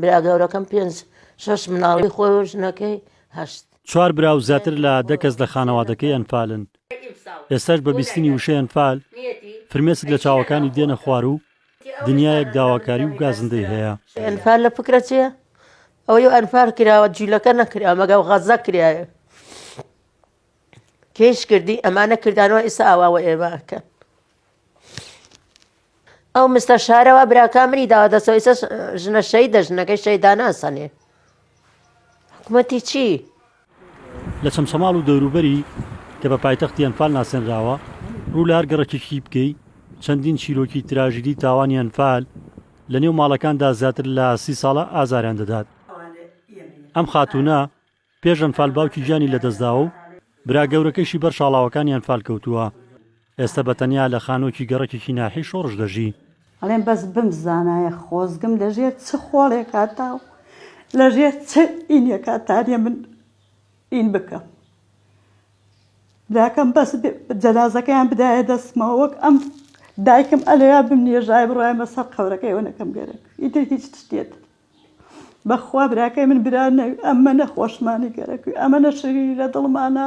برا گەورەکەم پێنج شەش مناڵی خۆی و ژنەکەی هەشت. چوار برا و زیاتر لە دە کەس لە خانەوادەکەی ئەنفالن. ئێستاش بە بیستنی وشەی ئەنفال، فرمێسک لە چاوەکانی دێنە خوار و دنیایەک داواکاری و گازندەی هەیە. ئەنفال لە فکرە چییە؟ ئەوەی ئەنفال کراوە جولەکە نەکرا، مەگەو غەزە کرایە. کێیش کردی؟ ئەمانە کردانەوە ئیستا ئاوا وە ئێمە ئەکەن. ئەو مستە شارەوە براکە منی داوا دەسەوە ئیسە ژنە شەیدە ژنەکەی شەیداناسەنێ حکوومەتی چی؟ لە چەمچەماڵ و دەوروبەری کە بە پایتەختی ئەنفال ناسێنراوە، ڕوو لە هەر گەڕەکێکی بکەی، چەندین چیرۆکی تراژیدی تاوانی ئەنفال لە نێو ماڵەکاندا زیاتر لە سی ساڵە ئازاریان دەدات. ئەم خاتوونە پێش ئەنفال باوکی گیانی لەدەستداوە و برا گەورەکەیشی بەر شاڵاوەکانی ئەنفال کەوتووە، ئێستە بە تەنیا لە خانووەکی گەڕەکێکی ناحیەی شۆڕش دەژی. ئەڵێم بەس بمزانایە خۆزگم لە ژێر چ خۆڵێکا تا و لە ژێر چ ئینێکا تانێ من ئین بکەم براکەم بەس جەنازەکەیان بدایە دەستمەوە وەک ئەم دایکم ئەلێیا بمنێژایە بڕایمە سەر قەبرەکەی ئەوەنەکەم گەرەک ئیتر هیچ شتێ تر. بەخوا براکەی من برا نەوی ئەمەنە خۆشمانی گەرەکوی ئەمەنە شیرینی لە دڵمانە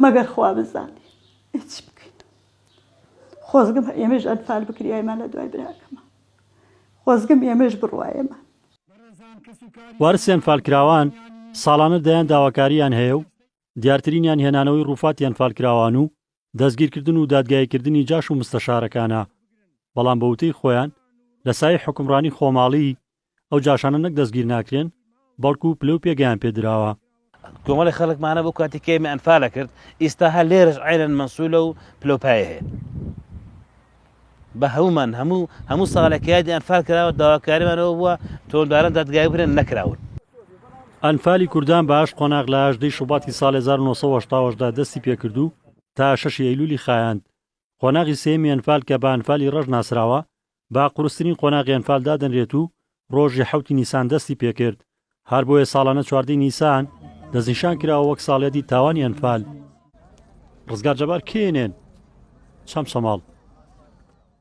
مەگەر خوا بزانی هیچ بکەین خۆزگم ئێمەش ئەنفال بکریایمان لە دوای براکەمە خۆزگم ئێمەش بڕواێمە وارسی ئەنفالکراوان ساڵانە دەیان داواکارییان هەیە و دیارترینیان هێنانەوەی ڕووفاتی ئەنفالکراوان و دەستگیرکردن و دادگاییکردنی جاش و مستەشارەکانە، بەڵام بە وتەی خۆیان لە سایەی حوکمڕانی خۆماڵی، ئەو جاشانە نەک دەستگیر ناکرێن، بەڵکو پلە و پێگەیان پێ دراوە. کۆمەڵێک خەڵکمانە بۆ کاتی کەیمی ئەنفالە کرد، ئیستا هەر لێرەش عەینەن مەنسولە و پلە و پایە هەیە. بە هەموومان هەموو هەموو ساڵێک کە یادی ئەنفال کراوە داواکاریمان ئەوە بووە تۆنداران دادگایی بکرێن نەکراون. ئەنفالی کوردان بە ئاشت قۆناغ لە ئاژدەی شوباتی ساڵێ هەزار و نۆ سەد و هەشتا و هەشت دا دەستی پێ کرد و تا شەشی ئەیلولی خایاند. قۆناغی سێیەمی ئەنفال کە بە ئەنفالی ڕەش ناسراوە، بە قورسترین قۆناغی ئەنفال دادەنرێت و ڕۆژی حەوتی نیسان دەستی پێکرد، هەر بۆیە ساڵانە چواردە ی نیسان دەستنیشان کراوە وەک ساڵیادی تاوانی ئەنفال. ڕزگار جەبار کێنێن چەمچەماڵ.